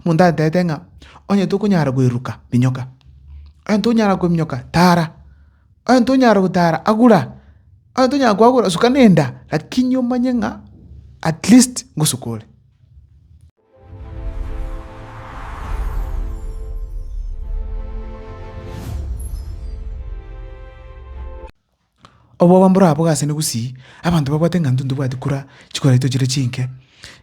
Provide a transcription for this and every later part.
Omonto atete ng'a onye tokonyara koiruka minyoka, onye tonyara kominyoka tara, onye tonyara gotara agura, onye tonyara koagura suka na enda, lakini omanye ng'a at least ngosuka ore. Obwoba mboraboge asene gusii, abanto babwate ng'a intwe ntobwati kura, chikoraito chire chinke,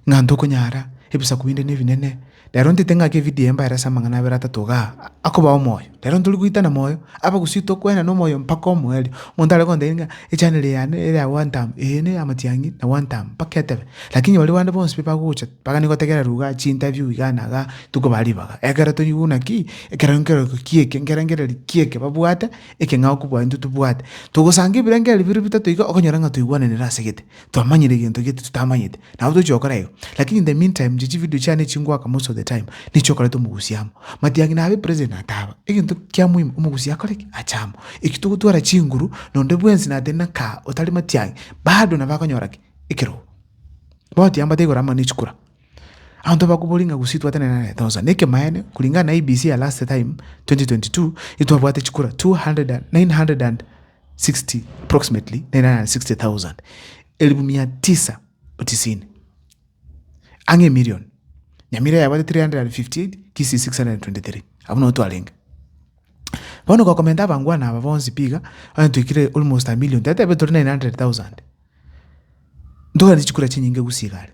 ng'a ntokonyara, ebisaku binde nebinene. Rero ntete ng'ake evidio eye mbaerese amang'ana abere atato igaa, akobao omoyo. Rero ntori goitana moyo, aba gusii tokwana na omoyo mpaka omoerio. Omonto are gontebia ng'a echaneli eye yane ere ya one term, eye ne ya matiang'i na one term, mpaka etebe. Lakini baria bande bonsi pi bagocha, bagani gotegerera rugha ase interview igaa na igaa, tokobaa ribaga. Ekero tori buna ki, ekero nkero kieke, nkerengererio kieke babwate. ekeng'ao kobua intwe tobwate. Togosanga ebirengererio biria bitato iga, okonyora ng'a twaigwananire ase gete, twamanyire egento gete totamanyete, nabo tochi gokora igo. Lakini in the mean time inche chivideo chiane echi ngoaka most of the time, nichi okoreta omogusia amo. Matiang'i nabe present nataba, egento kia muhimu omogusi akore ki? Ache amo. Eki togotwara chinguru, nonde bwensi natari na kaa otari matiang'i, bado nabo akonyora ki? Ekerogo. Bono tiambate igoro amo ne chikura. Abanto bakobori ng'a gusii twatenenanete onsi. Na ekemaene, kulingana na IEBC ya last time, 2022, itwabwate chikura 200,960 approximately 960,000, elifu mia tisa tisini, ang'e emilion. Nyamira yabwate 358, kisii 623. Abwo nigo twarenge. Bono gokomenta abangwana aba bonsi pi iga, onye twaikire almost a million, tiateba tore 900,000. Ntoganie chikura chinyinge gusii igare.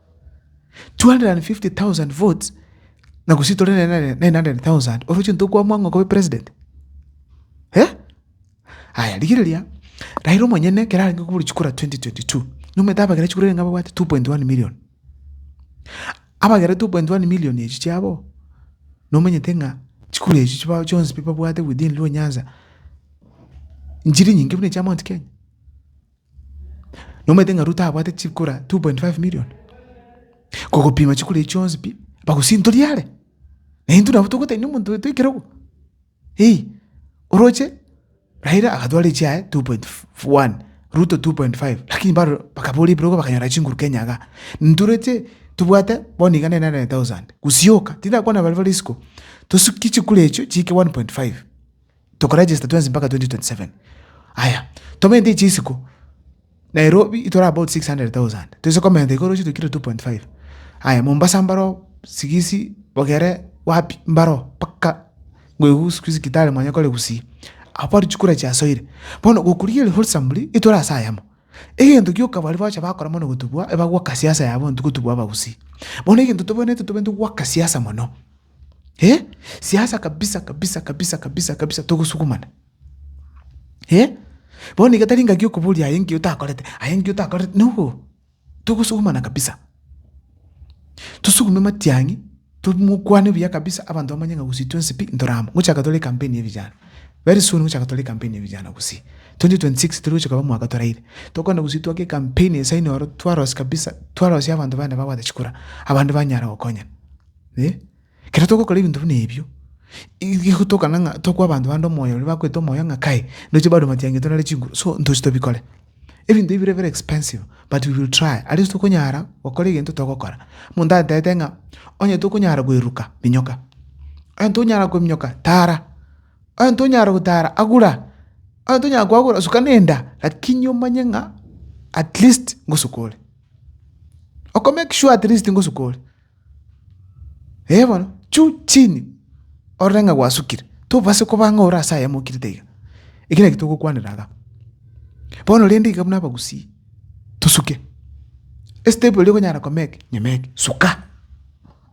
250,000 votes na gose tore ne 900,000 oroche ntokwamwa ng'a okobe president? Eh? Aya rigireria, Raila omonyene ekero arenge kobori chikura 2022, nomanyete abagera chikura erenge ababwate 2.1 million. Abagera 2.1 million echio chiabo, nomanyete ng'a chikura echio chibao chionsi pi babwate within Luo Nyanza, nchiri nyinge buna echia Mount Kenya. Nomanyete ng'a Ruto abwate chikura 2.5 million, kogopima chikura echio chionsi pi, bagosintoria are, na intwe nabo togotainia omonto oito ekerogo, eeh. Oroche Raila agatwara echiaye 2.1, Ruto 2.5, lakini bado bakabora ebirogo bakanyora chinguru Kenya igaa. Intwe oroche tobwate bono iga 900,000, gosioka, tindakwana baria bare isiko, tosuki chikura echio chiike 1.5. Toko register twensi mpaka 2027 aya tomente ichi isiko Nairobi itore about 600,000 toise komenta iga oroche tokire 2.5 aya Mombasa mbaroo sigisi bogere wapi mbaroo mpaka ngoigu siku hizi Kitale manye kore gusii abwo chikura chiasoire bono gokorigereria wholesomely itore ase ayamo Egento gioka baria bagocha bakora mono gotubua, eba goaka siasa yabo intwe gotubua abagusii. Bono egento tobaneete tobaneete goaka siasa mono, eh, siasa kabisa kabisa kabisa kabisa kabisa togosugumana, eh. Bono iga tari ngaki okoboria aye nki otakorete, aye nki otakorete, noboho, togosugumana kabisa. Tosugume matiang'i. Tomokwane buya kabisa abanto bamanye ng'a gose twensi pi ntoraama. Ngochaka tore ecampaign ya vijana. Very soon ngochaka tore ecampaign ya vijana gose. 2026 teri gochia koba omwaka toraire. Tokogenda gose twake ecampaign ase aino aro twarosie kabisa twarosie abanto baane babwate chikura abande banyare gokonyana. Eh. Ekero togokora ebinto buna ebio, igotokana ng'a tokwa abanto bande omoyo oria bakoete omoyo ng'a kae, ndoche barwe matiangeto nare chinguru. So ntoche tobikore. Ebinto ebi bire very expensive but we will try at least tokonyara gokora egento togokora. Omonto atete ng'a onye tokonyara koeruka minyoka, onye tonyara koeruka minyoka tara, onye tonyara gotara agura, onye tonyara koagura suka na enda lakini omanye ng'a at least ngosuka ore, oko make sure at least ngosuka ore. Ee bono, juu chini orore ng'a gwasukire, tobasa koba ng'a ore ase ayamo okirete iga. Ekio naki togokwanera iga. Bono rende iga buna abagusii, tosuke, estep eria okonyara komea eke, nyomee eke, suka,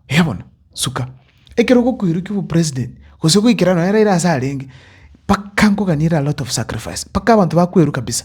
ee bono, suka. Ekero ogokoirokio obopresident, gose goikera nonye Raila ase arenge, mpaka nkoganie ere a lot of sacrifice, mpaka abanto bakwerwa kabisa.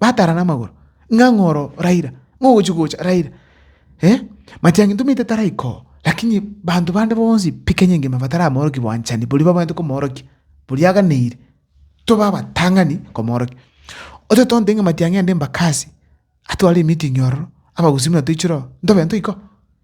batarana amagoro, ng'a ng'a oro Raila, ng'a ogochia gocha Raila, eh. Matiang'i ntomaite taraika oo, lakini banto bande bonsi pi Kenya engima bataramorokia bwanchani boria babwenerete komorokia, boria aganeire, tobe abatang'ani komorokia. Otagete ontebia ng'a matiang'i aande Embakasi, atware emeeting ororo, abagusii buna toichire oo, ntobe ntoika oo.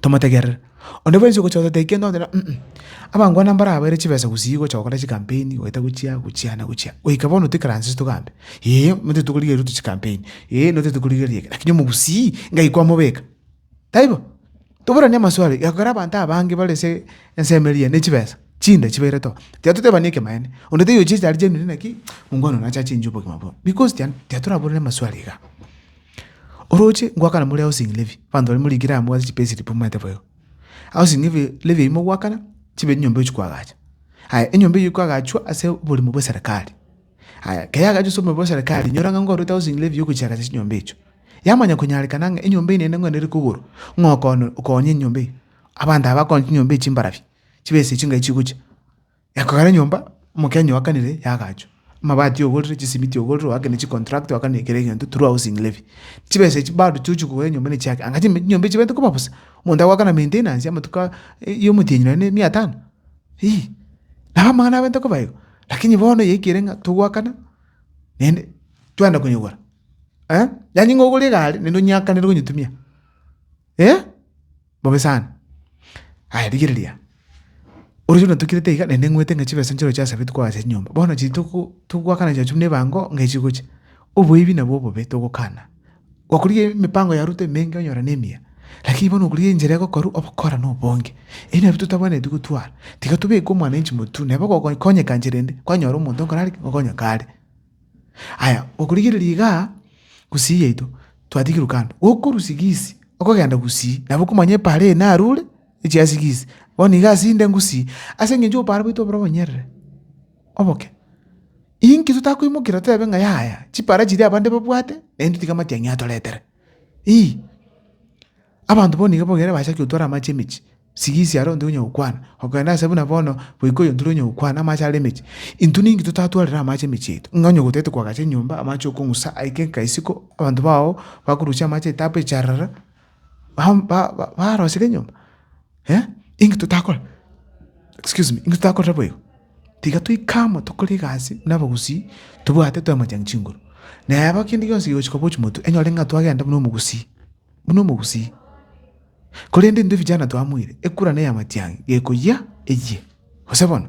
tomotegerere. Onde bwensi ogocha otatebia kende oteba ung'u, abangwana mbare abaire chibesa gusii gocha gokora chikampeni goeta gochia gochia na gochia, goika bono toikaranse togambe, ee, motete tokorigereria Ruto chikampeni, ee, motete tokorigereria eke, lakini omogusii ng'ai kwamobeka? Taibo? Toboranie amaswali, gekogera abanto abange bare ase ensemo eria ne chibesa, chinda chibairete oo, tiga totebani ekemaene, onde taiyo ochia ase are genuine naki, mongwana oyo nache achengie obogima boo, because tian tiatoraborani amaswali igaa. Oroche ngoakana more housing levy, abanto baria morikire amo ase chipay slip momaete boigo. Housing levy eyio mogoakana, chibe enyomba echia koagacha. Aya, enyomba eyio ekoagachwa ase oborimo bwa eserekari. Aya, ekero yagachwa ase oborimo bwa eserekari, inyora ng'a nkorete housing levy ya ogochia koagacha chinyomba echio. Yamanya konyarekana ng'a enyomba eyio naende nigo ere kogorwa, ng'a okonya enyomba eyio. Abanto aba bakonya chinyomba echio mbarabi, chibese chingayi chigochia. Ekogera enyomba, omokenya oakanire yagachwa, amabati ogorire, chisimiti ogorire, oakene chicontract, oakene kera egento through housing levy. Chibesa echi bado chiochia kogora enyomba ne chiake, anga chime chinyomba echi chibaete koba bosa, omonto agoakana maintenance y'amatuko aa ya omotienyi nonye ne mia tano, iyii. Nabo amang'ana abaete koba igo, lakini bono yaikire ng'a togoakana naende twaenda konyigora. Yaani ng'a ogore egari naende onyeakanere gonyetumia. Eh, bobe sana. Aya rigereria, ore chuna tokirete iga, naende ng'wete ng'a chibesa nchiro chiasabetwe koagacha chinyomba. Bono chiri togo- togoakana chiachu buna ebango ng'a echigocha. Oboibi nabo obobe togokana. Gwakorigia emipango ya Ruto emenge onyora nemiya, lakini bono okorigia enchera egokorwa obokora na obonge. Ebi nabio totabwenereti gotwara. Tiga tobeke omwananchi motwe, nabo ogokonyeka nchera ende, kwanyora omonto okorareke, okonyekare. Aya, okorigereria iga gusii yaito twatigirwe kando, gokorwa sigisi okogenda gusii nabo okomanya epaara eye narure echi ya sigisi, bono iga ase inde ngusii ase eng'encho obopara bwaito oboro obonyerere oboke. Inki totakoimokera toebe ng'a yaya, chipaara chiria abande babwate naintwe tiga amatiang'i atoretere? Ii. Abanto bono nigo bogere bachakia gotwara amache emechie, sigisi are onde onya gokwana, okorende ase buna bono goika oyonde onya gokwana amache are emechie, intwe ninki totatwarire amache emechie yaito? Ng'a onye gotete koagacha enyomba, amache okong'usa aike nka isiko, abanto bao bakorusia amache etapo echarara, barosire enyomba? Inki totakora? Excuse me, inki totakorire boigo? Tiga toike amo tokore egasi buna abagusii, tobwate twamanyechan'e chinguru. Na eba kende gionsi gegochia koba ochi motwe, enyore ng'a twagenda buna omogusii. buna omogusii. Korende intwe vijana twamoire ekura na ey'amatiangi gekoyia eyie, gose bono?